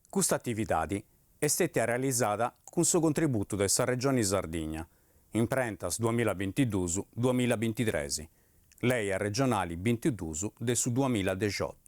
Custa atividadi est stètia realizada cun su contributu de sa Regioni Sardigna, imprentas duamilla bintidus duamilla bintitres, Leja Regionali bintidus de su duamilla dexiotu.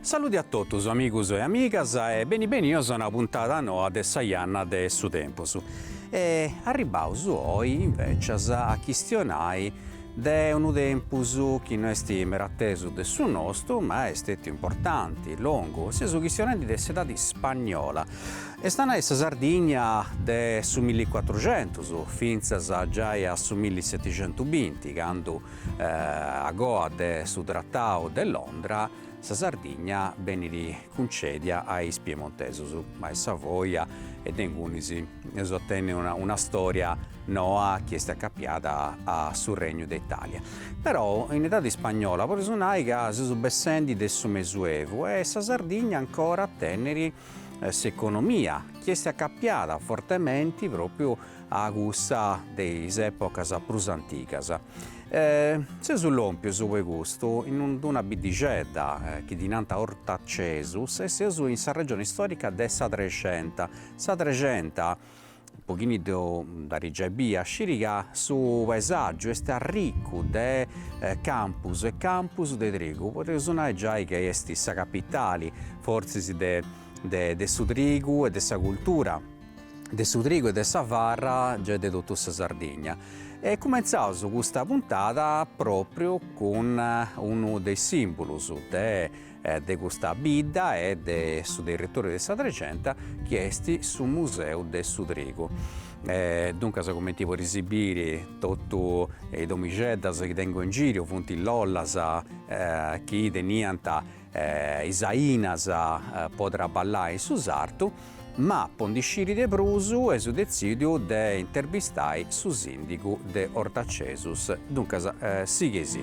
Saluti a totus amigus e amigas e beni benios a una puntada noa de Sa Janna de su Tempus. E arribbaus oi inveci a chistionai de unu tempus chi no est meda atesu de su nostu ma est stetiu importanti, longu, seus chistionendi de s'edadi spagnola, est a nai sa Sardigna de su milli cuatruxentus fintzas giai a su millisetixentubinti candu agoa de su Tratau de Londra, Sa Sardigna benit cuncedia a is piemontesos, a is Savoja e de ingunis eus a tenni una storia noa chi est acapiada a su Regnu de Italia. Però in edadi ispagnola podeus nai ca seus bessendi de su Mesuevu e sa Sardigna ancora at a tenniri s'economia chi est acapiada fortementi propriu a cussa de is epocas prus antigas. E seus lompios po custu in d'una biddixedda chi ddi nant Ortacesus e seus in sa regione istòrica de sa Trexenta. Sa Trexenta, po chini dd'at giai bia, scit ca su paesàgiu est arricu de campus e campus de trigu, podeus nai giai chi est sa capitali fortzis de su trigu e de sa cultura. de su trigu e de sa farra giai de totu sa Sardigna e cumentzaus custa puntada propriu cun unu de is simbolus de de custa bidda e de su territoriu de sa Trexenta chi est su museu de su trigu e duncas cumenti podeis biri totu is domixeddas chi tengu in giru funt lollas chi teniant is ainas po traballai in su sartu, ma po ndi sciri de prus eus detzìdiu de interbistai su sìndigu de Ortacesus. Duncas, sighei-sì.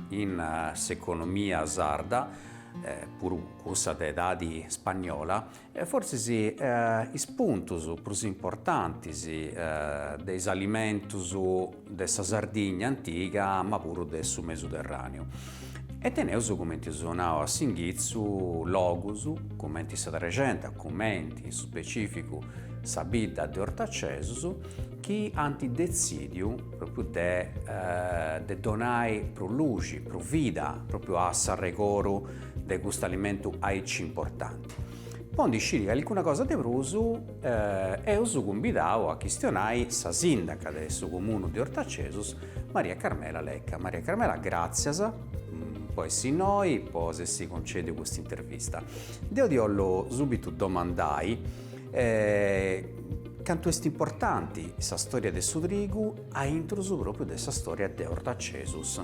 in s'economia sarda, puru cussa de edadi spagnola, fortzis is puntus prus importantis de is alimentus de sa Sardigna antiga ma puru de su Mesuterràneu. E teneus, cumenti eus nau a s'inghitzu, logus cumenti sa Trexenta, cumenti in su specificu sa bidda de Ortacesus chi ant detzìdiu, Propriu de de donai prus luxi, prus vida, propriu a s'arregoru de custu alimentu aici importanti. Po ndi sciri calicuna cosa de prus eus cumbidau a chistionai sa sindaca de su comunu de Ortacesus, Maria Carmela Lecca. Maria Carmela gràtzias po essi innoi, po s'essi concediu custa intervista. Deu ti 'ollu subitu domandai Cantu est importanti sa storia de su trigu a intrus pròpriu de sa storia de Ortacesus.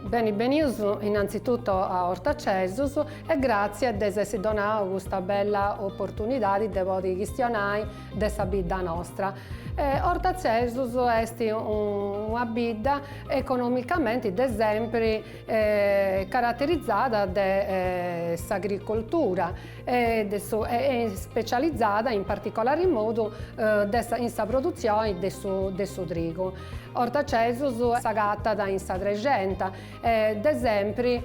Beni benius innantzituto a Ortacesus e gràtzias de s'essi donau custa bella oportunidadi de podi chistionai de sa bidda nostra. Ortacesus est una bidda economicamenti de sempri caraterizada de s'agricoltura e de su e e ispecializada in particolari modu de sa in sa produtzioni de su de su trigu. Ortacesus s'agatat in sa Trexenta e de sempri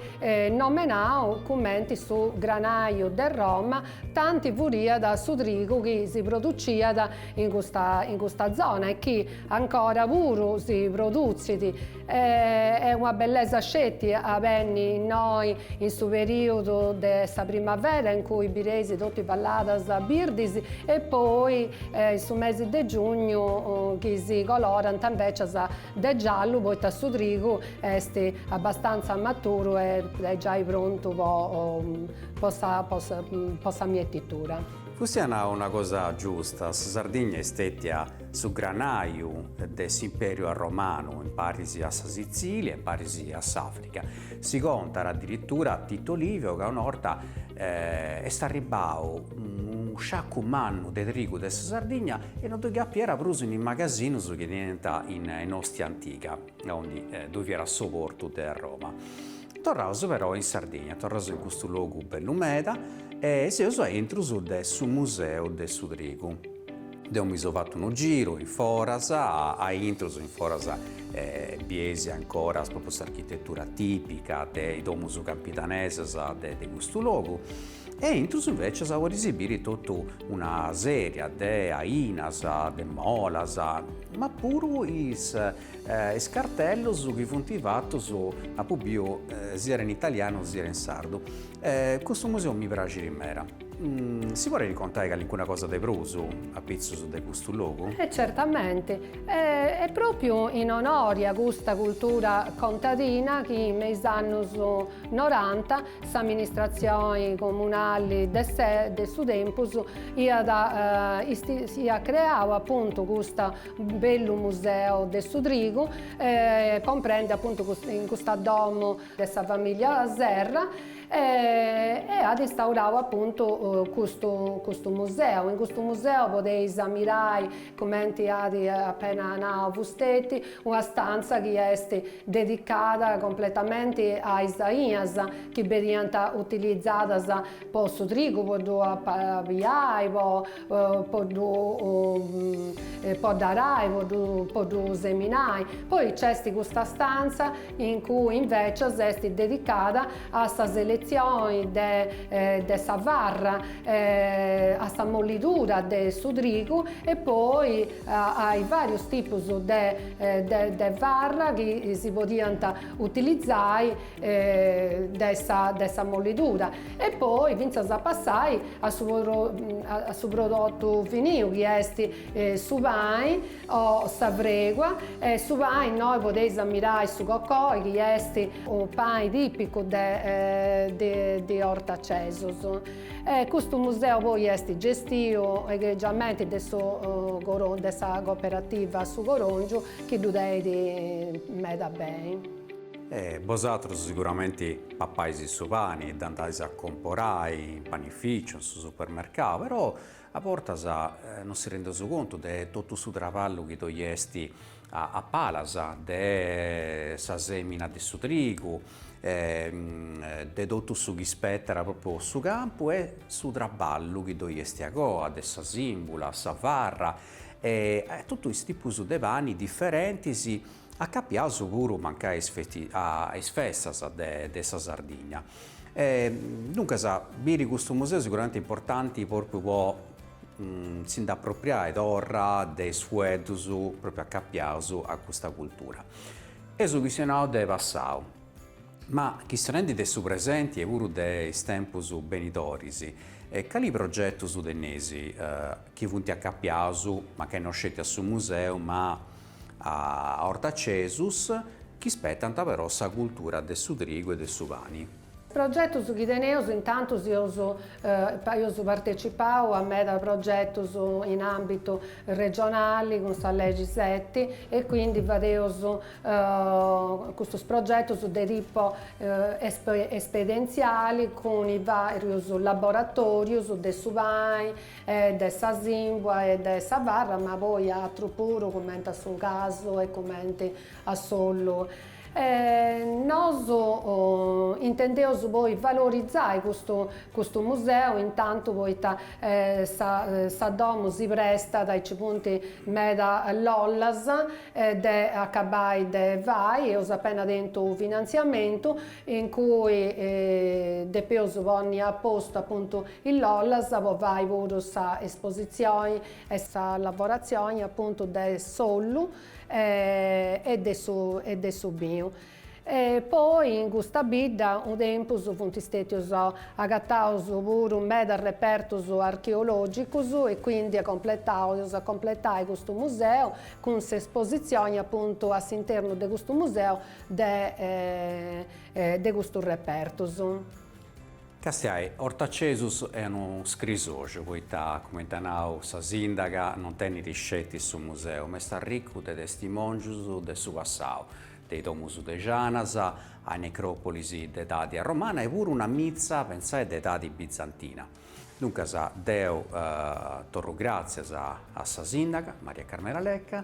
nomenau cumenti su granàiu de Roma tanti furiat su trigu chi si produciat in custa in custa zona e chi ancora puru si produtzit Est una bellesa sceti a benni innoi in su perìodu de sa primavera in cui bireis totu is valladas birdis e poi in su mesi de giugnu chi si colorant invècias de giallu poita su trigu est abbastanza maturu e est giai prontu po sa mietitura. Fustei at nau una cosa giusta, sa Sardigna est stètia Su granàiu de s'Impèriu Arromanu imparis a sa Sitzìlia e imparis a s'Àfrica. Si contat adiritura Tito Livio ca una 'orta est arribbau unu sciacu mannu de trigu de sa Sardigna e no ddoi capiat prus in is magasinus chi teniant in Ostia Antiga, aundi ddoi fiat su portu de Arroma. Torraus però in Sardigna, torraus in custu logu bellu meda e seus a intrus de su Museu de su Trigu. Deo mi so fattu unu giru in foras, a intrus in foras bies ancora propriu s'architetura tipica de is domus campidanesas de de custu logu e a intrus invecias podis biri totu una seria de ainas, de molas, ma puru is is cartellus chi funt fattus, apu biu siat in italianu siat in sardu. Custu museu mi praxit meda. Si podet contai calincuna cosa de prus apitzus de custu logu? E certamente, est propriu in onori a custa cultura contadina chi me is annus noranta s'amministratzioni comunali de su tempus iat iat creau apuntu custa bellu museu de su trigu comprendi apuntu in custa domu de sa famiglia Serra e at instaurau apuntu custu custu museu, in custu museu podeis ammirai cumenti at apena nau fusteti una stanza chi est dedicada completamenti a is ainas chi beniant utilizadas po su trigu po ddu apabiai po po ddu po dd'arai po ddu seminai, poi nc'est custa stanza in cui invecias est dedicada a sa selezioni de de sa farra, a sa molidura de su trigu e poi ai varius tipus de de de farra chi si podiant utilizai de sa de sa molidura e poi finzas a passai a su a su prodotu finiu chi est su pani O sa fregua e su pani innoi podeis ammirai su cocoi chi est unu pani tipicu de Ortacesus. Custu museu poi est gestiu egregiamenti de su de sa cooperativa Su Corongiu chi ddu tenit meda beni. E bosatrus siguramenti papais su pani e dd'andais a comporai in panificiu, in su supermercau, però A bortas non si rendeus contu de totu su traballu chi ddoi est a palas, de sa sèmina de su trigu, de totu su chi spetat pròpriu su campu e su traballu chi ddoi est a coa, de sa sìmbula, sa farra e totu is tipus de pani diferentis Acapiaus puru mancai a is festas de sa Sardinna. E duncas, biri custu museu siguramente est importanti propriu po si nd'apropriai torra de is fueddus propriu acapiaus a custa cultura. Eus chistionau de passau, ma chistionendi de su presenti e puru de is tempus benidoris, cali progetus teneis chi funt acapiaus mancai no sceti a su museu ma a Ortacesus chi spetant però sa cultura de su trigu e de su pani. Progetus chi teneus, intantu si eus partetzipau a meda progetus in ambitu regionali cun sa legi seti e quindi fadeus custus progetus de tipo esperientziali cun is varius laboratorius de su pani e de sa simbua e de sa farra ma poi atru puru cumenti a su casu e cumenti a s'ollu e nosu intendeus poi valorizai custu custu museu in tantu poita sa sa domu si prestat e ci funt meda lollas de acabai de fai eus apena tentu u' finantziamentu in cui depeus ponni a postu apuntu is lollas po fai puru sa espositzioni e sa lavoratzioni apuntu de s'ollu e de su e de su binu e poi in custa bidda unu tempus funt stetius agataus puru medas repertus archeologicus e quindi a completaus a completai custu museu cun s'espositzioni apuntu a s'internu de custu museu de de custus repertus. Castiai, Ortacesus est unu scrisoju poita, cumenti at nau sa sìndaga, non tenit sceti su museu, ma est arricu de testimòngius de su passau, de is domus de janas, a is necròpolis de edadi arromana e puru una mitza, pentzais, de edadi bizantina. Duncas deu torru gràtzias a sa sìndaga, Maria Carmela Lecca,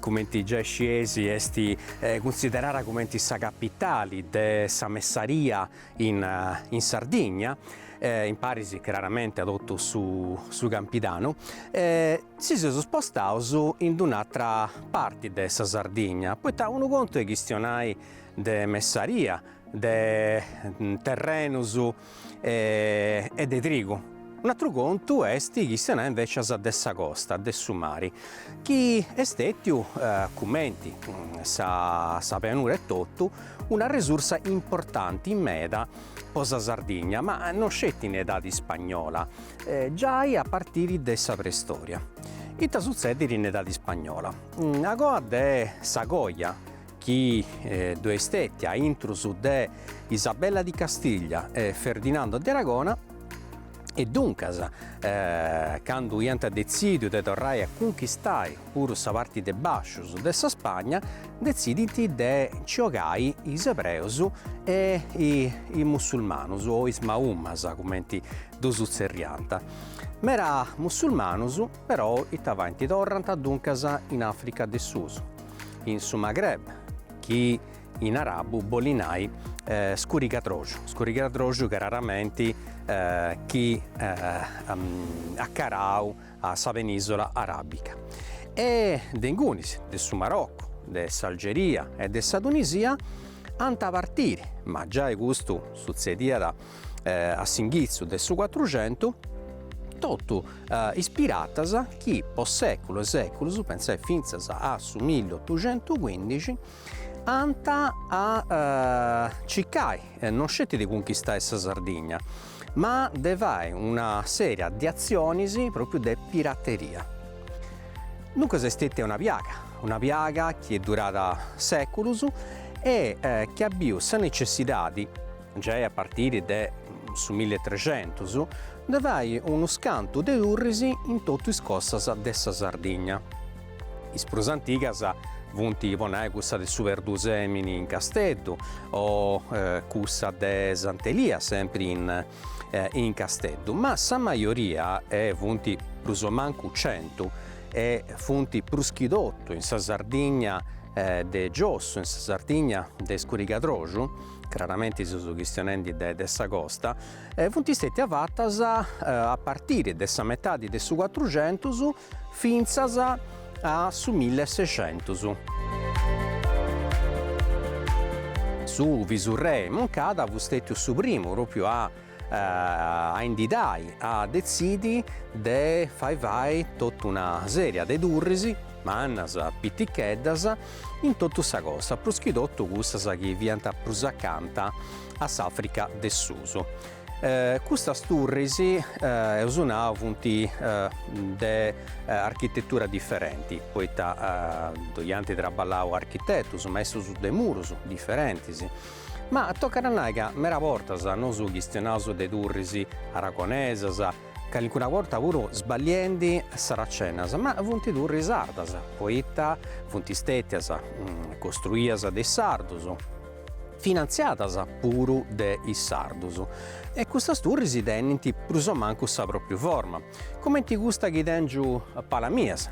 cumenti giai scieis est cunsiderada cumenti sa capitali de sa messaria in in Sardigna, imparis craramente a totu su su Campidanu, si seus spostaus in d'un'atra parti de sa Sardigna, poita unu contu est chistionai de messaria, de terrenus e de trigu, un'atru contu est chistionai invecias de sa costa, de su mari, chi est stetiu, cumenti sa pianura etotu, una resursa importanti meda po sa Sardigna, ma no sceti in edadi ispagnola, giai a partiri de sa preistoria. Ita sutzedit in edadi ispagnola? Agoa de sa coja chi ddoi est stètia a intrus de Isabella di Castiglia e Ferdinando de Aragona, e duncas candu iant detzìdiu de torrai a cunchistai puru sa parti de bàscius de sa Spagna, detzidint de nci 'ogai is ebreus e is mussulmanus o is maumas cumenti ddus tzerriant. Mera mussulmanus. Però ita faint? Torrant duncas in Africa de Susu, in su Maghreb, chi in arabu bolit nai scurigadroxu, scurigadroxu craramenti chi acarau a sa penìsula aràbica, e de ingunis, de su Maroccu, de s'Algeria e de sa Tunisia, ant a partiri, ma giai custu sutzediat a s'inghitzu de su cuatruxentu, totu is piratas chi po sèculu e sèculus, pensai fintzas a su milliotuxentucuindixi, ant a circai non sceti de cunchistai sa Sardigna, ma de fai una sèria de atzionis pròpriu de pirateria. Duncas est stètia una piaga chi est durada sèculus e chi at biu sa necessidadi, giai a partiri de su millitrexentus, de fai unu scantu de turris in totu is costas de sa Sardigna. Is prus antigas funt, po nai, cussa de su Perdusemini in Casteddu o cussa de Sant'Elia, sempri in Casteddu, ma sa majoria, e funt prus o mancu centu, e funt prus chi totu in sa Sardigna de giossu, in sa Sardigna de iscurigadroxu, craramenti seus chistionendi de sa costa, funt stètias fatas a partiri de sa metadi de su cuatruxentus fintzas a su milli e sexentus. Su visurrei Moncada fut stètiu su primu pròpriu a a indidai a detzidi de fai fai totu una sèria de turris, mannas, piticheddas, in totu sa costa, prus chi totu cussas chi fiant prus acanta a s'Àfrica de susu. Custas turris, eus nau, funt de architetura diferenti, poita ddoi ant traballau architetus maistus de murus diferentis, Ma tocat a nai ca meda bortas nosu chistionaus de turris aragonesas, calincuna borta puru sballiendi saracenas, ma funt turris sardas, poita funt istètias costruias de is sardus, finantziadas puru de is sardus, e custas turris tenint prus o mancu sa pròpriu forma, cumenti custa chi tèngiu a palas mias,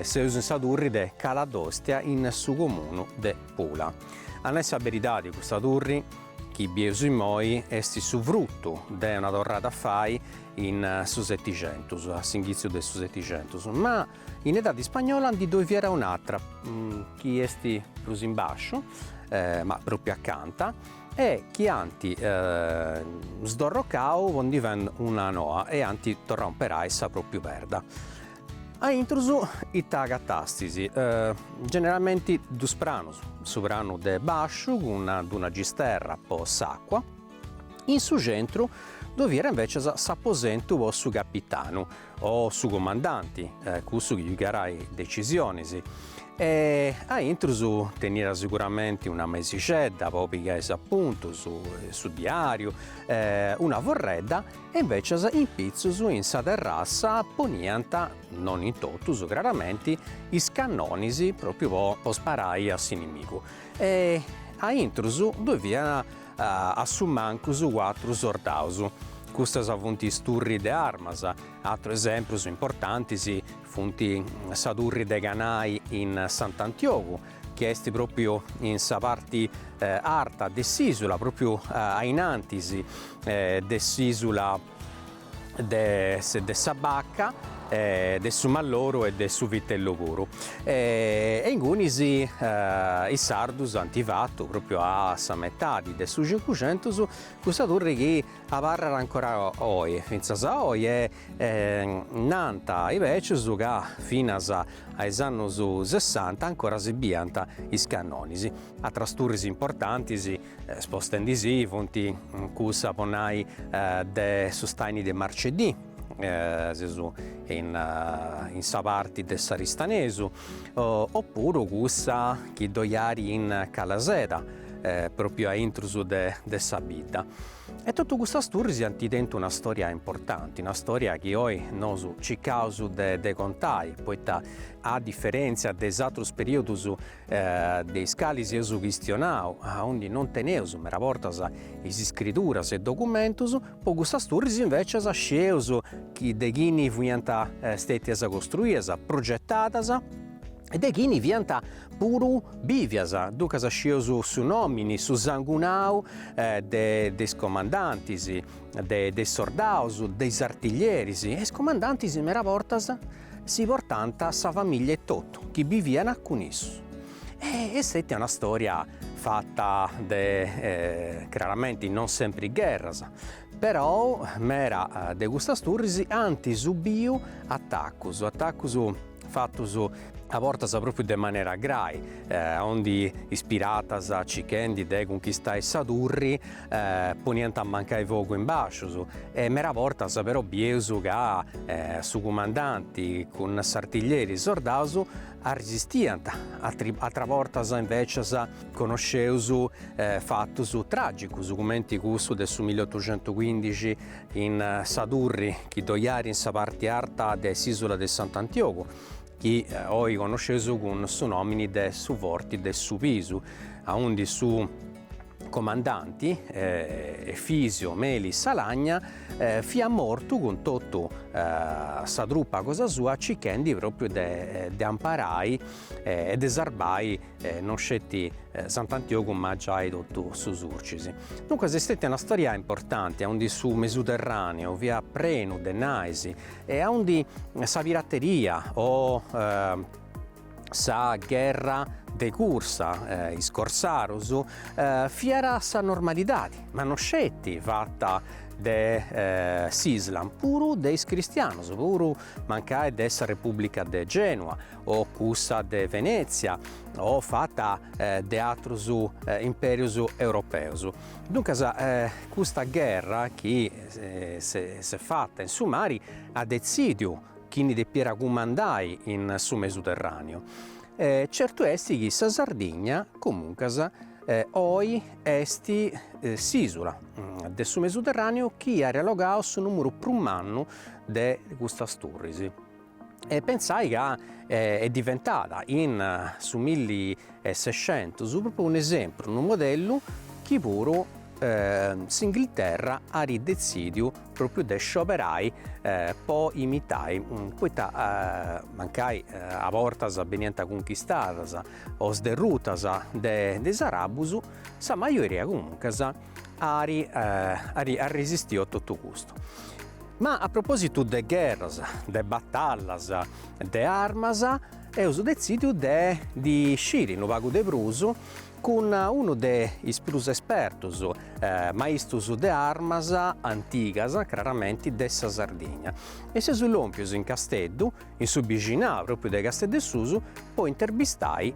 seus in sa turri de Cala d'Òstia in su comunu de. Pula. A nai sa beridadi custa turri chi bieus immoi est su frutu de una torrada a fai in su setixentus, a s'inghitziu de su setixentus, ma in edadi spagnola ndi ddoi fiat un'atra chi est prus in basciu, ma propriu acanta, e chi ant sdorrocau po ndi fai una noa e ant torrau a imperai sa propriu perda. A intrus ita agatàstis? Generalmenti dus pranus, su pranu de basciu cun d'una gisterra po s'acqua, in su centru ddoi fiat invècias s'aposentu po su capitanu o su comandanti, cussu chi pigàt decisionis, e a intrus teniat seguramenti una mesixedda po pigai s'apuntus, su diàriu, una forredda e invècias in pitzus in sa terrassa poniant, non in totus craramenti, is cannonis pròpriu po sparai a s'inimigu e a intrus ddoi fiant a su mancu cuatru sordaus. Custas funt is turris de armas, atrus esemprus importantis funt sa turri de Canai in Sant'Antiogu chi est pròpiu in sa parti arta de s'ìsula, pròpiu ainantis de s'ìsula de sa Bacca, de su Malloru e de su Vitellu puru, e ingunis is sardus ant fatu, pròpiu a sa metadi de su cincucentus, custa turri chi abarrat ancora oi, fintzas a oi, e nanta is bècius ca finas a is annus sessanta ancora si biant is cannonis, atras turris importantis, spostendi si, funt cussa po nai de su staini de Marcedì, seus in sa parti de s'Aristanesu, o puru cussa chi ddoi at in Calaseda, propriu a intrus de sa bidda e totu custas turris ant tentu una storia importanti, una storia chi oi nosu circaus de de contai, poita a diferentzia de is atrus periodus de is calis eus chistionau, aundi non teneus meda bortas is iscriduras e documentus, po custas turris invecias scieus chi de chini fiant stetias costruias, progetadas e de chini fiant puru bìvias, duncas scieus su nòmini, su sangunau de de is comandantis, de de is sordaus, de is artiglieris, e is comandantis mera bortas si portant sa famìllia e totu chi biviant cun issu. E est una stòria fata de claramenti non sempri gherras, però mera de custas turris ant subiu atacus, atacus fatos a bortas pròpiu de manera grai, aundi is piratas cichendi de cunchistai sa turri poniant mancai fogu in bàscius e mera bortas però bieus ca su cumandanti cun s'artiglieri e sordaus arrisistiant, atera bortas invècias connosceus fatos tràgicus cumenti cussu de su milli otocentuchindixi in sa turri chi ddo iat in sa parte arta de s'isula de Sant'Antiogu, chi oi connosceus cun su nomini de su Forti de su Pisu, aundi su comandanti, Efisio Melis Alagna, fiat mortu cun totu sa trupa cosa sua cichendi propriu de amparai e de sarbai e non sceti Sant'Antiogu ma giai totu su Surcis. Duncas est stètia una stòria importanti aundi su Mesuterràneu fiat prenu de nais e aundi sa pirateria o sa gherra de cursa, is corsarus, fiat sa normalidadi, ma non sceti fata de s'Islam, puru de is cristianus, puru mancai de sa Repùblica de Genua o cussa de Venètzia o fata de atrus impèrius europeus. Duncas custa gherra chi s'est fata in su mari at detzìdiu chini depiat cumandai in su Mesuterràniu. Certu est chi sa Sardigna, comuncas, oi est s'ìsula de su Mesuterràniu chi at allogau su nùmeru prus mannu de custas turris. e pensai ca est diventada in su milli e sescentus, propriu un'esempru, unu modellu chi puru s'Inghilterra arit detzidiu propriu de scioberai po imitai poita mancai a bortas beniant cunchistadas o sderrutas de is arabus sa majoria comuncas arit arit arresistiu a totu custu. Ma a propositu de gherras, de batallas, de armas, eus detzìdiu de ndi sciri unu pagu de prus cun unu de is prus espertus maistus de armas antigas, craramenti de sa Sardigna, e seus lòmpius in Casteddu, in su bixinau pròpriu de Casteddu 'e Susu, po intervistai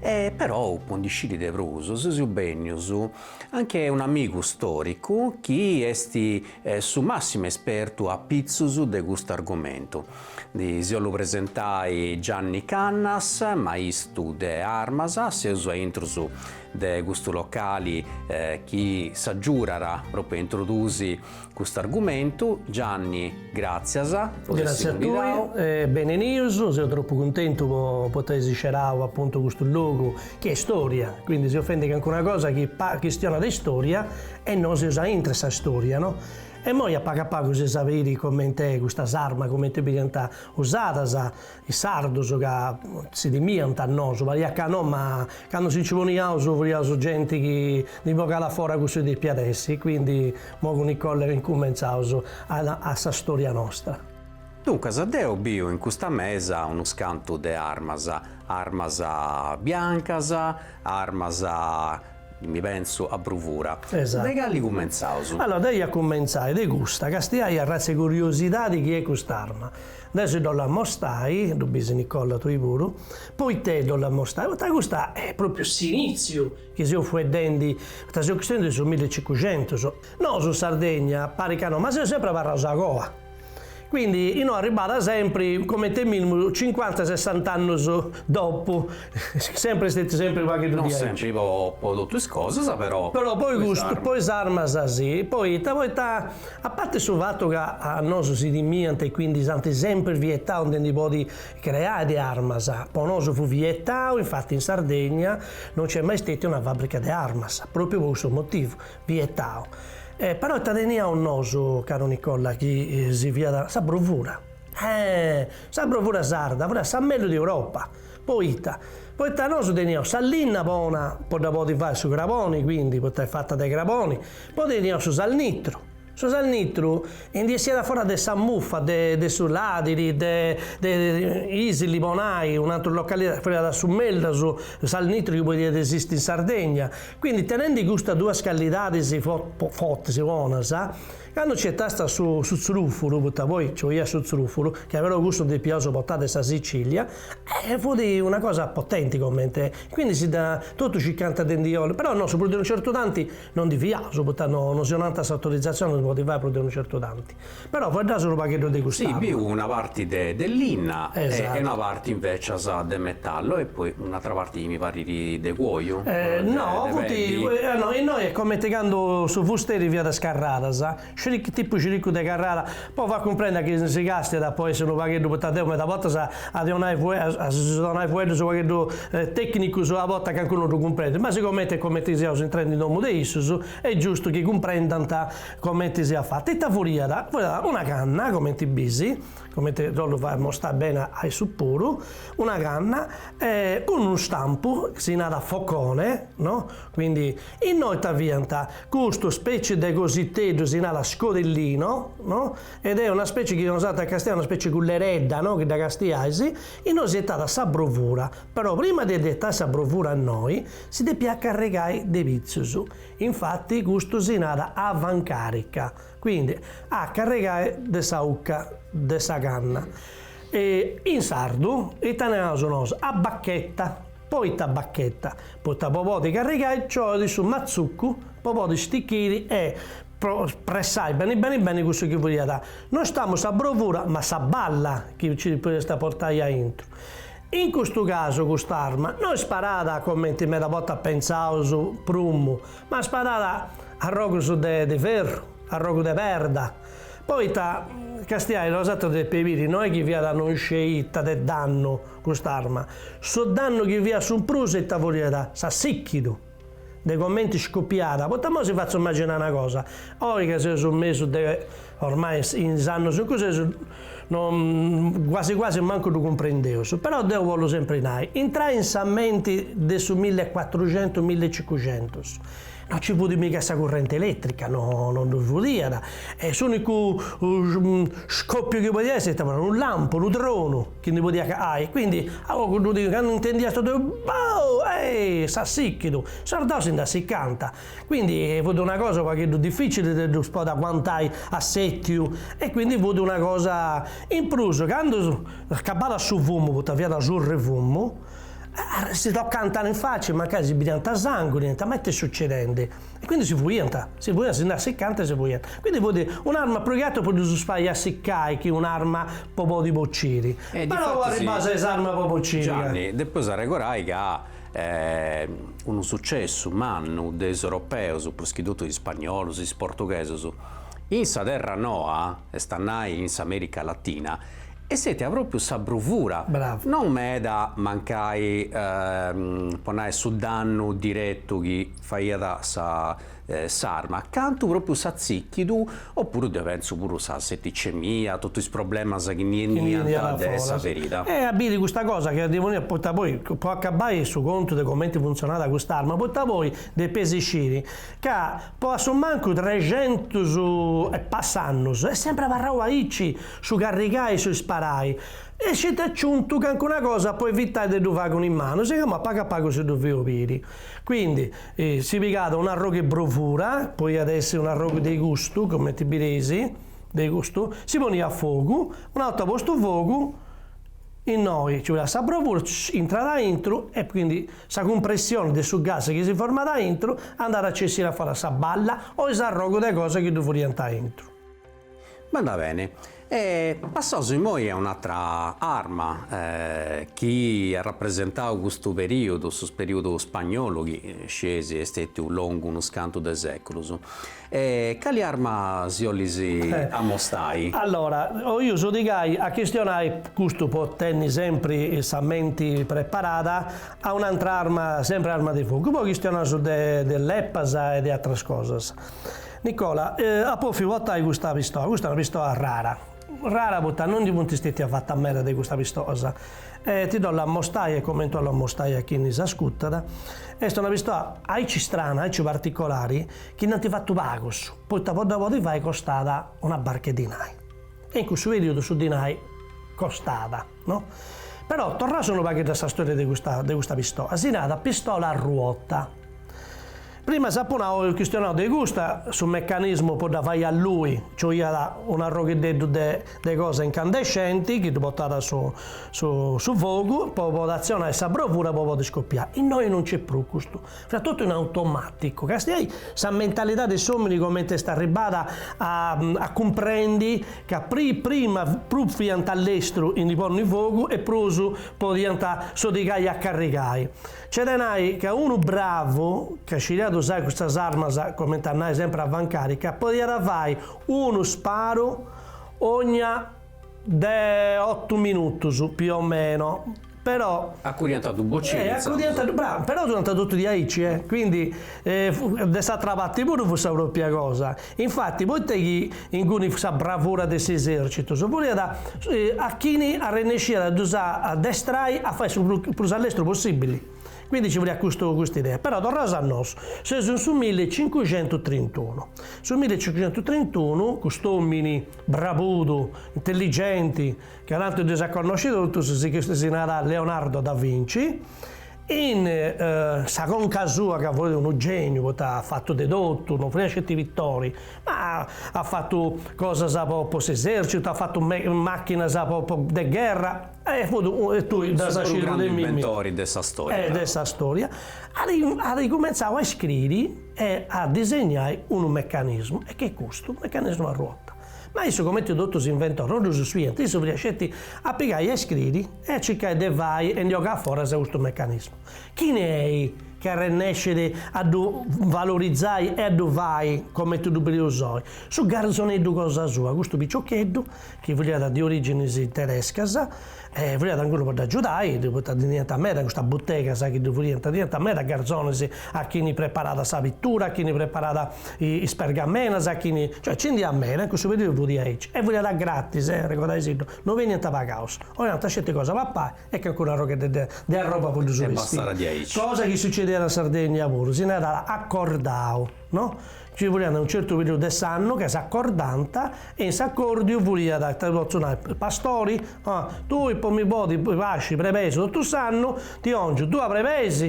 E però po ndi sciri de prus seus bennius a che un'amigu storicu chi est su massimu espertu a pitzus de custu argomentu. Si 'ollu presentai Gianni Cannas, maistu de armas, seus a intrus de custu locali chi s'agiudat propriu a introdusi Custu argumentu, Gianni, gràtzias. Gràtzias a tui e benenius, seu tropu cuntentu de podi ai sceberau apuntu custu logu chi est storia, quindi seu fendi cancuna cosa chi chistionat de storia e nois seus aintru 'e sa storia no? e immoi a pagu a pagu eus a biri coment'est cust'arma, comenti dd'iant usadas, Is sardos ca si timiant a nosu parit ca no ma candu si nci poniaus fiaus genti chi ndi bogàt a fora cussu chi depiat essi, quindi immoi cun Nicolla incumentzaus sa storia nostra. Duncas deu biu in custa mesa unus cantu de armas, armas biancas, armas mi pensu a bruvura. De cali cumentzaus? Allora deu ia cumentzai de custa, càstiai arratz'e curiosidadi chi est cust'arma. Deu si ddu ollu ammostai, ddu bisi Nicolla tui puru, poita ddu ollu ammostai, poita custa est pròpriu s'inìtziu chi seus fueddendi, seus chistionendi de su milli e cincuxentus. Nosu in Sardegna parit ca no, ma seus sempri abarraus a coa. Quindi inoi arribat sempri coment'e mìnimu cincuanta sessant'annus dopu. Sempre est sempre u' pagheddu diaici. Non sempre po totu is cosas però. Però po is armas si. Poita, poita a parti su fatu ca a nosu si timiant e quindi s'ant sempri vietau de ndi podi creai de armas, po nosu fut vietau, infati in Sardegna non nc'est mai stetia una fabrica de armas, propriu po cussu motivu, vietau. Però ita teniaus nosu, caru Nicolla, chi si fiàt, sa brovura. Eh! Sa brovura sarda fut sa mellus de Europa. Poita? Poita nosu teniaus sa linna bona po ddu podi fai su craboni, quindi, poita est fata de craboni, poi teniaus su salnitru, su salnitru ndi essiat a foras de sa muffa de de su ladiri, de Isili po nai un'atera localidadi, fiat su mellus salnitru chi podiat esisti in Sardegna, quindi tenendi custas duas callidadis fortis bonas, Candu nci etaist a su su tzrufuru, poita poi nci boiat su tzrufuru, chi aberu custu depiaus portai de sa Sicilia, e fut una cosa potenti comente, quindi si dda, totus circanta de ndi 'olli, però no, su prus de unu certu tanti no ndi fiaus, poita no no si 'onant s'autorizatzioni po ndi fai prus de unu certu tanti, però fueddaus unu pagheddu de custa. Sì, biu una parti de de linna e una parti invecias de metallu e poi. Un'atra parti mi parrit de cuoju. No, funt, no, innoi est comenti candu su fusteri fiat is carradas, ciric, tipu ciricu de carrada, po fai cumprendi chi si castiat po essi unu pagheddu, poita deu meda bortas a ddi 'onai a si donai fueddus u' pagheddu tecnicus a bortas cancunu no ddu cumprendit, ma sigomenti est comenti siaus intrendi in domu de issus, est giustu chi cumprendant comenti siat fata. Ita furiat? Furiat una canna, comenti bisi. comente dd'ollu fai mostai bene a issu puru, una canna cun unu stampu, si narat focone, no, quindi innoi ita fiant, custu speci de cositeddu si narat scodellino, no, ed est una speci chi nosatrus a castiai una speci culleredda, no, chi dda castiais, innoi si etat sa brovura, però prima de ddi etai sa brovura innoi si depiat carregai de pitzus, infati custu si narat avancarica Quindi a carregai de sa ucca de sa canna. In sardu ita naraus nos? A bacchetta. Poita a bacchetta? Poita po podi carregai nci 'oit su matzuccu po podi stichiri e pressai beni beni beni cussu chi furiat nostamus sa brovura ma sa balla chi nci podest a portai aintru. In custu casu cust'arma no isparada comenti meda bortas pentzaus prumu. Ma sparada arrogus de de ferru, arrogu de perda, poita castiai bosatrus depeis biri, no est chi fiat no isciu ita de dannu cust'arma, su dannu chi fiat su prus ita furiat s'assichidu, de comenti scopiada, poita imoi si fatzu imaginai una cosa, oi ca seus in mesu de Ormai in is annus in cui seus, no, quasi quasi mancu ddu cumprendeus, però deu bollu sempri nai, intrai in sa menti de su milli e cuatruxentus, milli e cincuxentus, no nci fut miga sa currenti elètrica, no no ddu furiada, e s'unicu scopiu chi podiat essi ita, unu lampu, unu tronu chi ndi podiat ai, quindi a ogu ddu diu, candu intendiast totus, bou, ehi, s'assichidu, is sordaus si nd'assicanta, Quindi fut una cosa u pagheddu difficili de ddus podi aguantai a settiu e quindi fut una cosa, in prus candu s'acabadat su fumu poita fiat surra 'e fumu, si tocanta in faci mancai si bidiant sangu nant ma it'est sucedendi, e quindi si fuiant, si fuiant, si ndi assicant e si fuiant, quindi fut un'arma prus chi ateru po ddus fai assicai chi un'arma po podi bociri, però po arribbai a sa is armas po bociri ca. Gianni, depeus arregorai ca unu sucessu mannu de is Europeus, prus chi totu is Spagnolus, is Portughesus, in sa terra noa, est a nai in s'America Latina, est stètia propriu sa bruvura, non meda mancai po nai su dannu diretu chi faiat sa s'arma, cantu propriu s'atzìchidu, opuru pentzu puru sa seticemia, totu is problemas chi ndi 'eniant de sa ferida. E a biri custa cosa chi arrivu neo, poita poi, po acabai su contu de comenti funtzionat custa arma, poita poi depeis isciri ca po assumancu trexentus e passa annus est sempri abarrau aici su carrigai e su isparai, est stètiu aciuntu cancuna cosa po evitai de ddu fai cun is manus, chi imui a pagu a pagu si ddu fio biri. Quindi E si pigàt un'arrogu 'e brovura, poiat essi un'arrogu de custu, comenti bireis, de custu, si poniat a fogu, una 'orta postu fogu, innoi nci poniat sa brovura, intrat aintru e quindi sa cumpressioni de su gas chi si format aintru andat a bessiri aforas sa balla o s'arrogu de cosa chi ddu fudiant aintru. Bandat bene. E passaus immoi a un'atra arma chi at rapresentau custu perìodu, su perìodu spagnolu chi scieis est stètiu longu unus cantu de sèculus. E cali arma s'olis amostai? Allora, 'oiu sodigai a chistionai, custu po tenni sempri sa menti preparada, a un'atra arma, sempri arma de fogu. Poi chistionaus de leppas e de atras cosas. Nicola, Eh, apo 'ófiu potai custa pistoa, custa est una pistoa rara, rara poita non ndi funt stètias fatas meda de custas pistoas, e ti dda 'ollu amostai e comente 'ollu amostai a chini s'ascutat, est una pistoa aici strana, aici particolari, chi nd'ant fatu pagus, poita po dda podi fai costat una barca 'e dinai, e in cussu perìodu su dinai costat, no. Però torraus unu pagheddu a sa storia de custa de custa pistoa, si narat pistola a ruota. Prima s'apo nau e chistionau de custa su mecanismu po dda fai allui, nci 'oiat un arrogheddeddu de de cosa incandescenti chi ddu potat su su su fogu po podi atzionai sa brovura po podi scopiai. Innoi non nc'est prus custu, fait totu in automaticu, castiai sa mentalidadi de s'omini comenti est arribbada a a cumprendi ca pri prima prus fiant a lestru in ndi ponni fogu e prus podiant sodigai a carrigai. C'est de nai ca unu bravu, ca sciriat usai custas armas, comente a nai sempre avancarica, podiat fai unu sparu ogna de otu minutus, più o meno, però. Acudiant a ddu bocinu intzandus. Acudiant a ddu, brava, però fudiant totu diaici, eh! Quindi de s'atra parti puru fut sa propria cosa. Infati, poita chi inguni sa bravura de s'esèrcitu furiat a chini arrennesciat a ddus addestrai a fai su prus allestru possìbili, quindi nci furiat custu cust'idea. Però torraus a nosu, seus in su milli e cincuxentu e trintunu. Su milli e cincuxentu e trintunu, cust'òmini brabudu, intelligenti, ca tantu dd'eus a connosci totus, si narat Leonardo da Vinci, In sa conca sua ca furiat unu geniu poita at fatu de totu, non furiat sceti pitori, ma at fatu cosas po po s'esercitu, at fatu machinas po po de gherra e fut e tui ddas as scidiu de mimmi. Su prus grandu inventori de sa storia. E de sa storia. At at cumentzau a iscriri e a disegnai unu mecanismu e ch'est custu unu mecanismu a ruota. Ma issu comenti totus is inventoris non ddus fiant, issu furiat sceti a pigai a iscriri e circai de fai e ndi ogai foras a custu mecanismu. Chini est chi arrennescit a ddu valorizai e a ddu fai comenti ddu bideus oi? Su garzoneddu cosa sua, custu piciocheddu chi furiat de originis terescas e furiat inguni po dd'agiudai, poita ndi teniant meda in custas butegas chi ddu furiant, teniant meda garzonis a chini preparat sa pitura, a chini preparat is pergamenas, a chini, cioè nci ndi iat meda e in cussu periudu furiat aici e furiat a gratis, arregodaisitddu No beniant pagaus. 'Onànt sceti cosa a papai e calincunu arrogheddu de de arroba po ddus bestiri. Cosa chi sucediat in Sardegna puru, si narat acordau, no? Nci furiant unu certu periudu de s'annu ca s'acordànt e in s'acòrdiu furiat, ita ti potzu nai, pastori, ah, tui po mi podi pasci brebeis totu s'annu, ti 'ongiu duas brebeis,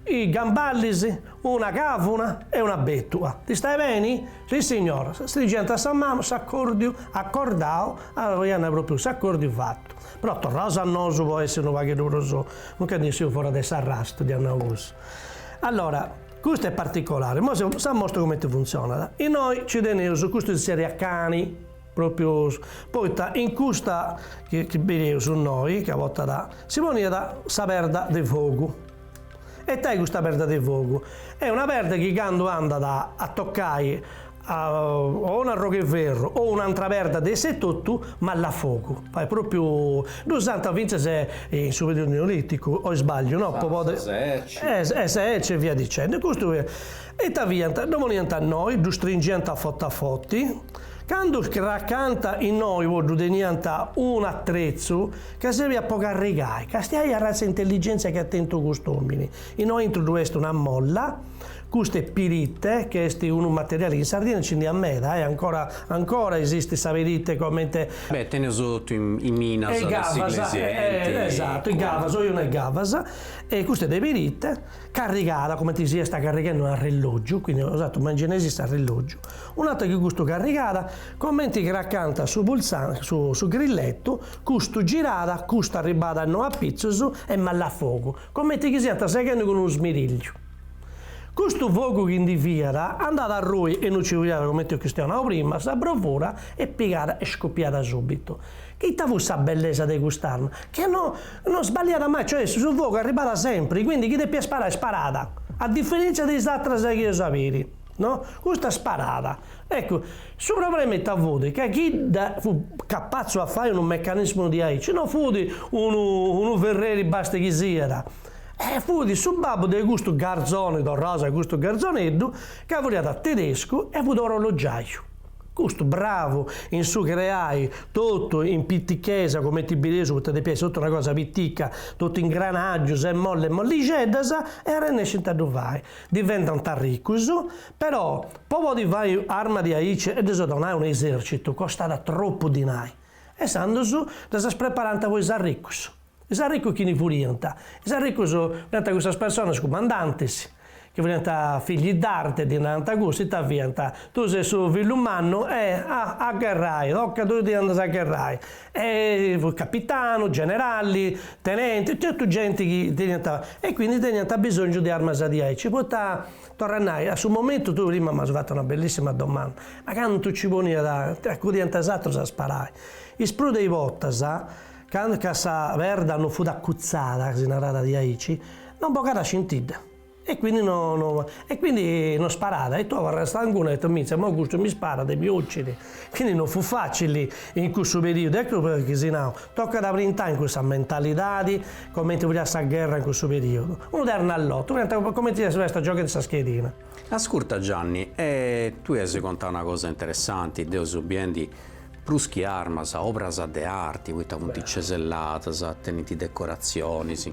is gamballis, una càvuna e una bètua. T'istait beni? Sì signor. Stringiant sa manu s'acòrdiu acordau, narànt pròpriu s'acòrdiu fatu. Però torraus a nosu po essi unu pagheddu prus, no nci 'essiri fora de s'arrastu, dd'ia nau cussu. Allora, custu est particolari, imoi deu s'amostru cumenti funtzionat. Innoi nci teneus, custu si zerriat cani, pròpriu poita in custa chi bideus innoi, ca a bortas si poniat sa perda de fogu, E ita est custa perda de fogu? Est una perda chi candu andat a tocai a o un arrogu 'e ferru o un'antra perda de issa etotu mallat fogu, fait propriu, ddu usant fintzas in su periodu neoliticu o isbagliu no? po podi, sa serci, e sa serci e via dicendi, custu ita fiant, ddu poniant a innoi, ddu stringiant a foti a foti, candu cracant innoi po ddu teniant un'atretzu Ca serbiat po carrigai. Castia ita arratza intelligenzia chi at tentu cust'omini. Innoi aintru ddu est una mola, custu est pirite che est unu materiali chi in Sardina nci ndi at meda eh, ancora ancora esistit sa pirite comente. Beh, teneus totu in minas de sighili sighenti. Esatu, is cavas, oi o no is cavas. E custa de pirite, carrigada cumenti si est carrighendi una arrellogiu, quindi una cosa totu ma in genesi est arrellogiu, un'atera chi custu carrigada, comenti cracànt su pulsan su su grillettu, Custu girat, custu arribat innoi a pitzus e mollat fogu, comenti chi siant seghendi cun unu smirilliu. Custu fogu chi ndi fiat andàt a arrui innoi nci fiat comenti chi si dd'eus nau prima, sa bruvura e pigat e scupiat subitu. Ita fut sa bellesa de cust'arma? Ca no no sballiat mai, cioè su fogu arribat sempri, quindi chi depiat sparare sparat, a diferentzia de is atras chi eus a biri, no, custa sparat, Eccu, su problema ita fut, ca chini fut capatzu a fai unu mecanismu diaici no fut unu unu ferreri basta chi siat, eh, fut su babbu de custu garzoni, torraus a custu garzoneddu ca furriat tedescu e fut orologiaju, custu bravu in su creai totu in pitichesa cumenti bideus, poita depiat essi totu una cosa pitica, totu ingranagius e mollas e mollixeddas e arrennescint a ddu fai, diventant arricus Però, po podi fai armas diaici e ddis donai a un esercitu costat tropu dinai. E sandus ddas preparànt po is arricus. Is arricus chini furiant? Is arricus fiant cussas personas cumandantis, chi furiant figli d'arte, ddi narànt cussu, ita fiant? Tui ses su fillu mannu e a a gherrai, tocat tui ti andas a gherrai. E fut capitanu, generali, tenenti, totu genti chi teniant, e quindi teniant abisongiu de armas diaici, poita Torru a nai, a su momentu tui prima m'as fatu una bellissima domanda, ma cantu ci poniat acudiant is atrus a sparai. Is prus de is bortas, candu ca sa perda no fut accutzada, si narat diaici, non bogat scintidda, e quindi no e quindi no sparat e tui abarras stancu, naras "e itta, mintzia, imoi custu mi sparat e mi occit, Quindi non fut facili in cussu periudu, eccu perché si nau, tocat a brintai in cussa mentalidadi, comenti furiat sa gherra in cussu periudu. Unu ternu a lotu, fiant comenti si fessint gioghendi sa schedina. Ascurta Gianni, e tui as contai una cosa interessanti, deu seu biendi prus chi armas, obras de arti, poita funt ceselladas, tenint decoratzionis,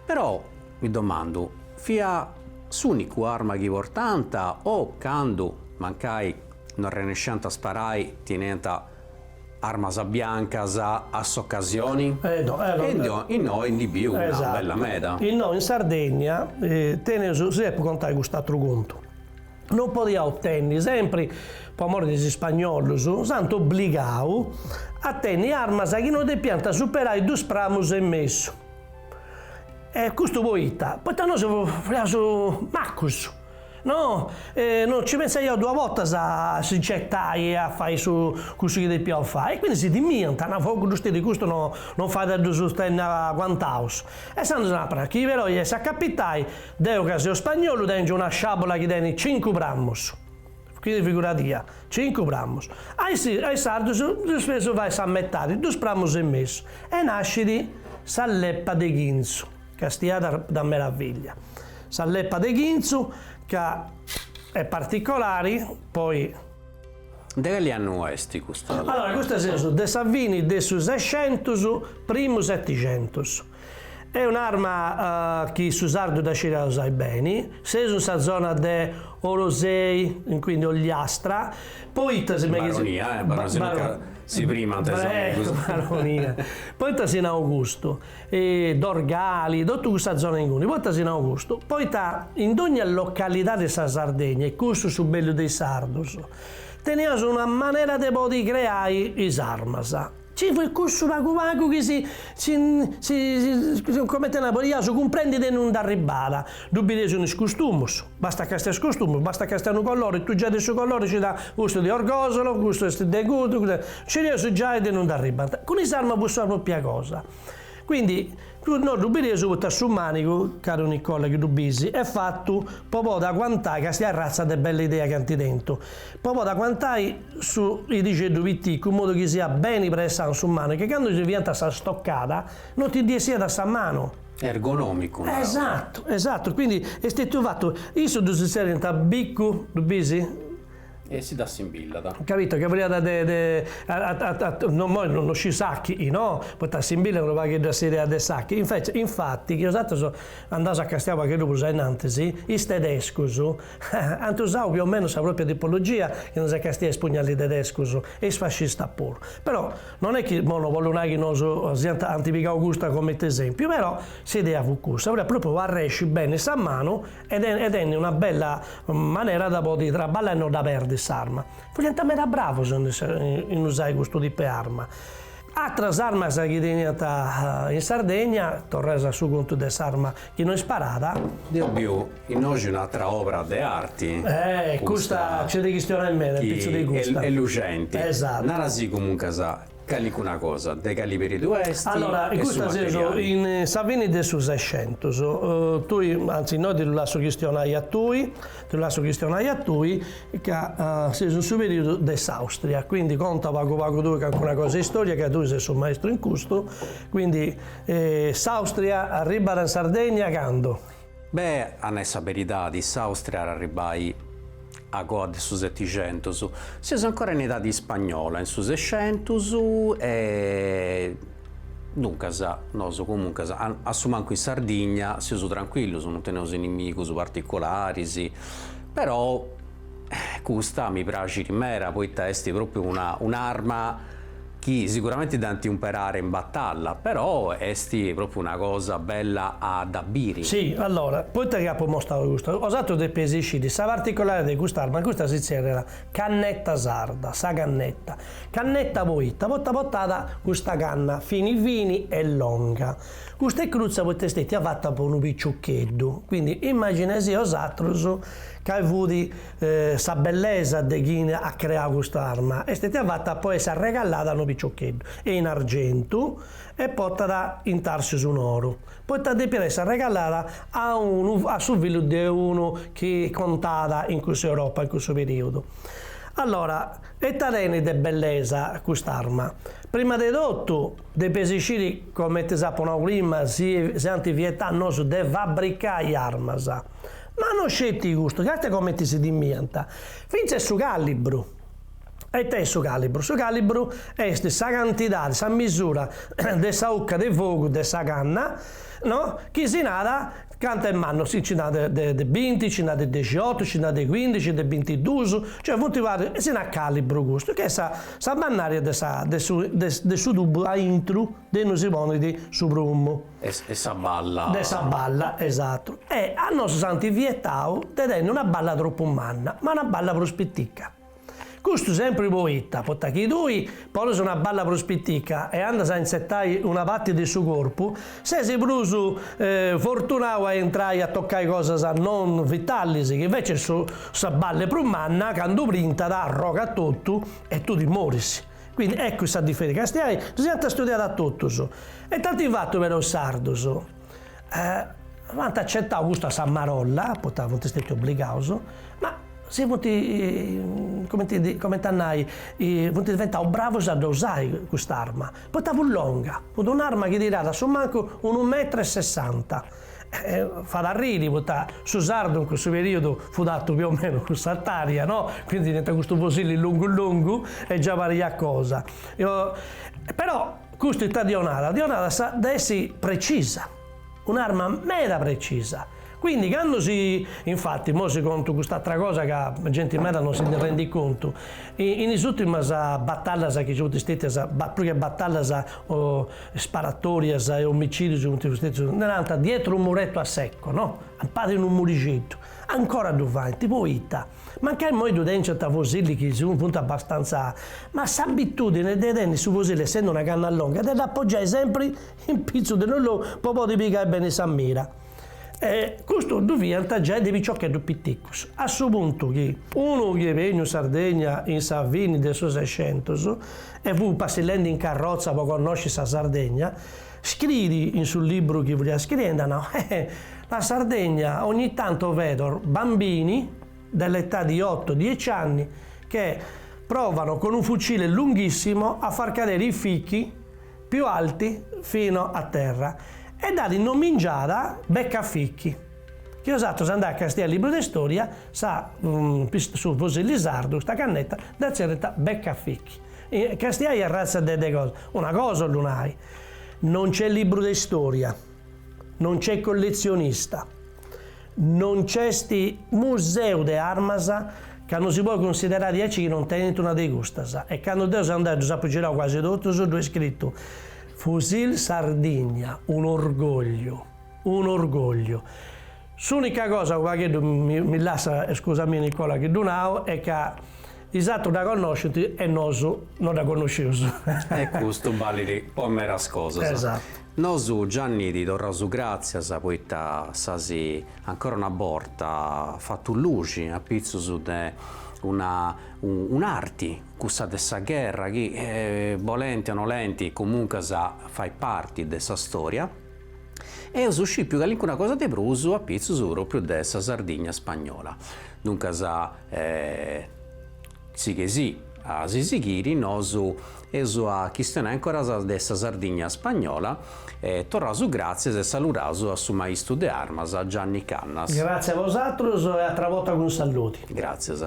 però mi domandu, fiat s'unica arma chi portànt o candu, mancai, No arrenesciant a sparai, teniant armas biancas a s'ocasioni? Edo, edo. E innoi ndi biu una bella meda. Innoi in Sardegna teneus, si depu contai cust'atru contu, no podiaus tenni sempri po amori de is ispagnolus, s'ant obbligau a tenni armas chi no depiant superai dus pramus e mesu. E custu poita? Poita nosu fiaus macus. No, no nci pensaiaus duas bortas a si nci 'etai e a fai su cussu chi depiaus fai e quindi si timiant, nau, fogu ddus tirit, custus no no fait a ddus tenni aguantaus. E insaras nau, però chi però est a capitai, deu ca seu spagnolu tengiu una sciabula chi tenit cincu pramus, quindi figuradì, cincu pramus, a is a is sardus ddus potzu fai sa metadi, dus pramus e mesu e nascit sa leppa de chinzu. Castia ita meraviglia sa leppa de chinzu ca est particolari poi. De cali annu est custa leppa? Allora custa seus de sa fini de su sescentus primu setticentus. Est un'arma chi su sardu dda sciriat usai beni. Seus in sa zona de Orosei, quindi Ogliastra, poita si meghi. Baronia eh, si no ca si primant is amigos. Baronia, poita si nau custu, Dorgali, totu cussa zona inguni, poita si nau custu? Poita in dogna localidadi 'e sa Sardegna, est custu su bellu de is sardus, teniaus una manera de podi creai is armas, ci fut cussu pagu pagu chi si si si coment'e nai, podiaus cumprendi de innui nd'arribbàt, ddu bideus in is costumus. Basta chi castis is costumus, basta chi castis unu colori, tui giai de su colori scis: custu de Orgosolo, custu est de cuddu, custu est, iscireus giai de innui nd'arribbant. Cun is armas fut sa propria cosa. Quindi, no ddu bideus poita a su manigu, caru Nicola chi ddu bis, est fatu po podi aguantai, castia ratza de bella idea chi ant tentu, po podi aguantai su idixeddu piticu in modu chi siat beni pressau in su manigu e candu si fiant a sa stoccada no ti ndi 'essiat sa manu. ergonòmicu, narò. Esatu, esatu, quindi est stetiu fatu, issus ddu zerriant bicu, ddu bisi? E si dd'assimbillat. Capito, ca fadiat de de no imoi no sciu s'àchili, no, poita assimbillat unu pagheddu a s'idea de s'àchili, infeci, infati, chi nosatrus andaus a castiai u' pagheddu prus ainnantis, is tedescus Ant usau più o meno sa propria tipologia chi nosu castiaus is pugnalis tedescus e is fascistas puru. Però non est chi imoi no bollu nai chi nosu siant ant pigau custa comente esempiu, però s'idea fut cussa, fut po podi arresci beni sa manu e e tenni una bella manera de podi traballai e no dda perdi s'arma. Furiant meda bravus in is in usai custu tipu 'e arma. Atras armas chi teniant in Sardegna, torraus a su contu de s'arma chi no isparat, deu biu Innoxi un'atra obra de arti custa nc'est de chistionai meda impitzu de custa, est luxenti, narasì comuncas calicuna cosa, de cali periudu est, allora custa seus in sa fini de su sescentus, tui, anzi innoi ti ddu lassu chistionai a tui, ti ddu lassu chistionai a tui, ca seus in su periudu de s'Austria, quindi conta pagu pagu tui calincuna cosa de istoria ca tui ses su maestru in custu, quindi s'Austria arribbat in Sardegna candu? Be', a nai sa beridadi, s'Àustria at arribbai a coa de su setixentus. Seus ancora in idadi ispagnola, in su sescientus e duncas nosu comuncas a su mancu in Sardigna seus tranquillus, non teneus inimigus particularis, però Custa mi praxit meda poita est propriu una un'arma chi siguramenti dd'ant imperada in batalla, però est propriu una cosa bella a dda biri. Si, allora, poita chi apu mostau custa, osatrus depeis isciri sa particolaridadi de cust'arma, custa si zerriat cannetta sarda, sa cannetta, cannetta poita poita portat custa canna fini fini e longa, custa est crutza poita est stètia fata po unu picioccheddu, quindi immaginesi osatrus Cali fut sa bellesa de chini at creau custa arma? Est istètia fata po essi arregalada a unu piciocheddu, est in argentu, e potat intarsius in oru, poita depiat essi arregalada a unu a su fillu de unu chi contàt in cussa Europa, in cussu periudu? Allora, e ita tenit de bellesa custa arma? Prima de totu, depeis sciri, comenti s'apu nau prima, si si ant vietau a nosu de fabricai armas, Ma no sceti custu, càstia comenti si timiant? Fintzes su càlibru! E ita est su càlibru? Su càlibru est sa cantidadi, sa misura de sa 'ucca de fogu de sa canna, no, chi si narat cantu est mannu, si nci nd'at de de binti, nci nd'at de dexiotu, nci nd'at de cuindixi, de bintiduus, cioè funt e si narat càlibru custu, chi est sa sa mannària de sa de su de su tubu aintru De innui si ponit su prummu. E sa balla. De sa balla, esatu. E a nosu s'ant vietau de tenni una balla tropu manna, ma una balla prus pitica. Custu sempri poita, poita chi tui ponis una balla prus pitica e andas a intzertai una parti de su corpu, ses prus fortunau a intrai a tocai cosas non vitalis, chi invecis sa balla est prus manna, candu brintat arrogat totu e tui ti moris. Quindi eccu sa diferi. Castiai ddas iant studiadas totus e dd'ant fatu però is sardus ant acetau custu a sa marolla, poita funt stetius obligaus, ma si funt cioè cumenti a nai funt diventaus bravus a dda usai cust'arma, poita fut longa, fut un'arma chi tiràt a su mancu unu metru e sessanta Fait arriri poita su sardu in cussu periodu fut artu più o meno cuss'artaria no, quindi teniant custu fosilli longu longu e già pariat cosa. E totu custu ita dd'io narat, dd'io narat at a essi precisa, un'arma meda precisa, quindi candu si, infati immoi si contu cust'atra cosa ca genti meda non si ndi rendit contu, in is urtimas batallas chi ci funt stetias, prus che batallas o Sparatòrias e omicìdius cun tirustetzos, narant dietro un muretto a secco, no? A palas de unu murixeddu. Ancora ddu faint, poita? Mancai immoi ddu tènciant fosilis chi funt abbastanza, ma s'abitùdine de tenni su fosili, essendi una canna longa, de dd'apogiai sempri in pitzu de unu logu po podi pigai beni sa mira. E custu ddu fiant giai de piciocheddus piticus, a su puntu chi unu chi est beniu in Sardegna in sa fini de su Sescentus e fut passillendi in carrotza po connosci sa Sardegna, scriit in su libru chi fut scriendi, no, eh, la Sardegna ogni tanto vedo bambini dell'età di otto, dieci anni che provano con un fucile lunghissimo a far cadere i fichi più alti fino a terra, e dd'at nomingiada beccafichi, chi 'osatros andais a castiai libru de storia, sa su fusilli sardu custa cannetta dda zerriant beccafichi, castiai a razza de de cosa, una cosa 'ollu nai, non c'è libru de storia, non c'è colletzionista, No c'est museu de armas ca no si podet cunsiderai diaici chi non tenit una de custas e candu deu seu andau e ddus apu girau cuasi totus ddoi est scritu Fusil Sardegna, un'orgògliu, un'orgògliu. S'ùnica cosa, unu pagheddu mi lassat, scusami Nicola, chi ddu nau est ca is atrus dda connoscint e nosu no dda connoscius. E custu balit po meras cosas. Nosu Gianni ti torraus gràtzias poita s'as ancora una borta fatu luxi apitzus de una un'arti, cussa de sa gherra chi, bolenti o nolenti, comuncas fait parti de sa stòria. Eus scìpiu calincuna cosa de prus apitzus pròpriu de sa Sardigna spagnola. Duncas Sighei a si sighiri nosu eus a chistionai ancoras de sa Sardigna spagnola e torraus gràtzias e saludaus a su maistu de armas Gianni Cannas. Gràtzias a bosatrus e a atra borta cun saludi. Gràtzias.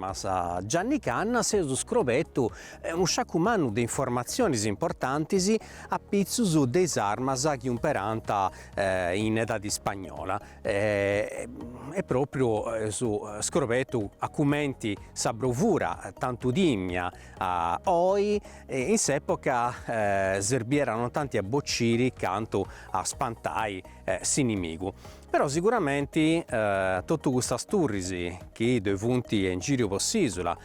a Gianni Cannas eus scrobetu unu sciacu mannu de informatzionis importantis apitzus de is armas chi umperànt in edadi spagnola e pròpriu eus scrobetu a cumenti sa brovura tantu timia oi in s'època serbiat non tanti a bociri cantu a spantai s'inimigu. Però siguramenti totu cussas turris chi ddoe funt in gìriu po s'ìsula,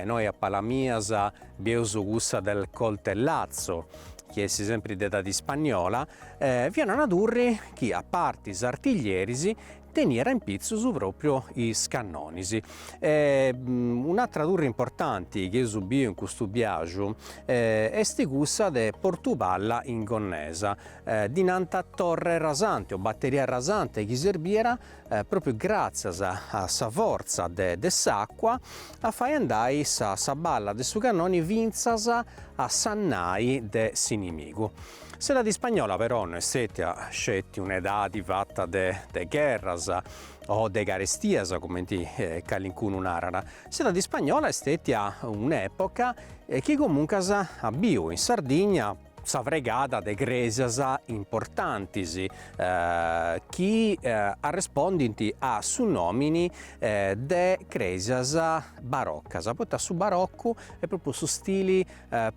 innoi a palas mias bieus cussa del Coltellazzo, chi est sempri de edadi spagnola, fiat una turri chi a parti is artiglieris teniat in pitzus pròpriu is cannonis. Un'atra turri importanti chi eus biu in custu biaju est cussa de Portu Palla in Gonnesa, ddi nant torre rasante o batteria rasante chi serbiat propriu gratzias a sa fortza de s'acqua a fai andai sa sa balla de su cannoni fintzas a sa nai de s'inimigu. S'edadi spagnola però no est stètia sceti un'edadi fatta de de gherras o de carestias cumenti calincunu narat, s'edadi spagnola est stètia un'epoca chi comunque at biu in Sardigna, sa fregada de crèsias importantis chi arrespundint a su nòmini de crèsias barocas, poita su baroccu est pròpriu su stili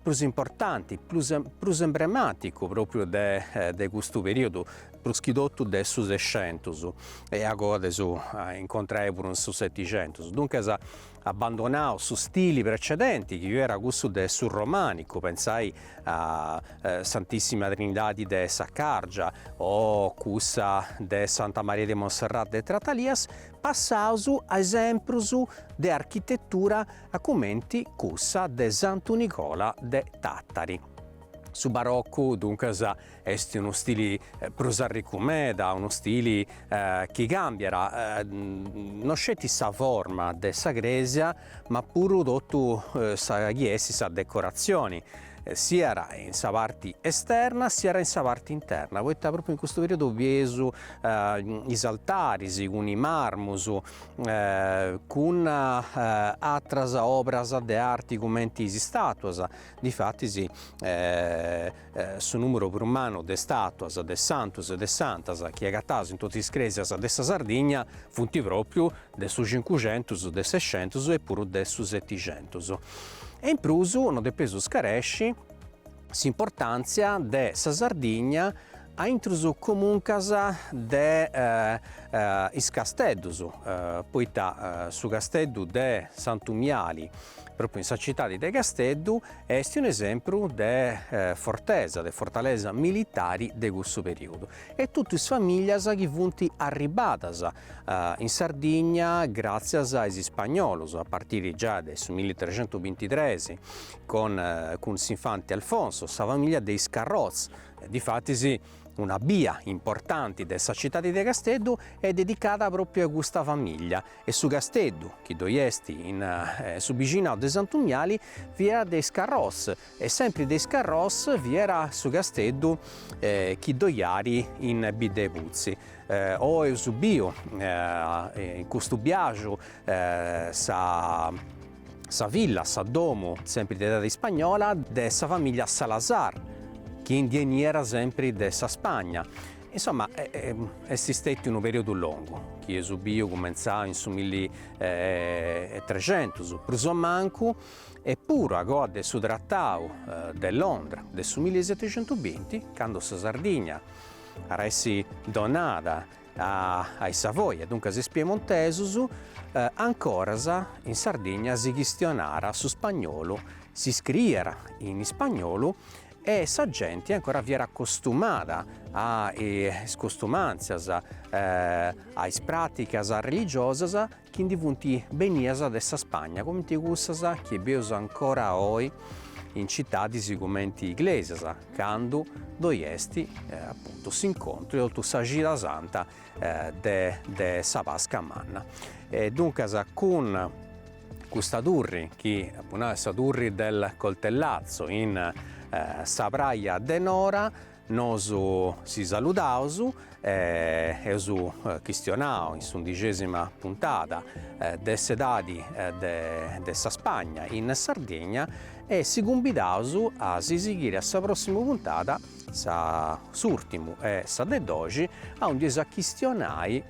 prus importanti, prus prus emblemàticu pròpriu de de custu perìodu, prus chi totu de su Sescentus e agoa dd'eus a incontrai puru in su Setixentus, duncas abbandonau su stili precedenti chi fiat cussu de su romànicu, pensai a Santissima Trinidadi de Saccàrgia o cussa de Santa Maria de Monserrat de Tratalias, passaus a esemprus de architetura a cumenti cussa de Santu Nicola de Tàtari. Su Baroccu, duncas, Est unu stili prus arricu meda, unu stili chi càmbiat no sceti sa forma de sa crèsia ma puru totu sa chi est sa decoratzioni, siat in sa parti esterna siat in sa parti interna, poita pròpriu in custu periodu bieus is altaris cun is marmus cun atras obras de arti cumenti is istàtuas, difatis su nùmuru prus mannu de istàtuas de santus e de santas chi agataus in totu is crèsias de sa Sardigna funt pròpriu de su cincuxentus, de su sexentus e puru de su setixentus. E in prus no depeus scaresci s'importàntzia de sa Sardigna a intrus comuncas de is casteddus, poita su casteddu de Santu Miali, pròpriu in sa citadi de Casteddu, Est un'esempru de fortesa, de fortalesa militari de cussu periodu. E totu is famìlias chi funt arribbadas in Sardigna gràtzias a is ispagnolus, a partiri giai de su milli-trecentu-bintitres, cun cun s'infanti Alfonso, sa famìlia de is Carroz, e difatis una bia importanti de sa citadi de Casteddu est dedicada pròpriu a custa famìlia, e su casteddu chi ddoi est in su bixinau de Santu Miali fiat de is Carròs e sempri de is Carròs fiat su casteddu chi ddoi at in Bidda 'e Putzi. Oi eus biu in custu biaxu sa sa villa, sa domu, sempri de edadi ispagnola, de sa famìllia Salazar, chi ndi 'eniat sempri de sa Spagna Insomma, est stetiu unu periodu longu, chi eus biu cumentzau in su milli e trexentus prus o mancu, e puru a goa de su Tratau de Londra de su milli e setexentubinti, candu sa Sardigna at essi donada a is Savoia, duncas is Piemontesus, ancoras in Sardigna si chistionàt su spagnolu, si scriiat in ispagnolu E sa genti ancora fiat acostumada a is costumàntzias, a is pràticas religiosas chi ndi funt benidas de sa Spagna, cumenti cussas chi bieus ancora oi in citadis cumenti Iglesias, candu ddoi est apuntu s'incontru e totu sa cida santa de sa Pasca manna. E duncas cun Custa turri, chi apu nau est sa turri del coltellazzo in sa praja de Nora, nosu si saludaus, eus chistionau in s'undixesima puntada de s'edadi de sa Spagna in Sardigna e si cumbidaus a si sighiri a sa prossima puntada, sa s'urtimu e sa de doxi, aundi eus a chistionai,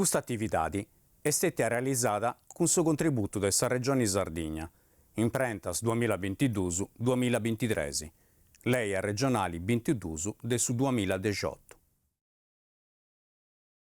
Custa atividadi est stètia realizada cun su contributu de sa Regioni Sardigna, imprentas duamilla bintiduus duamilla bintitres, Lei Arregionali bintiduus de su duamilla dexiotu.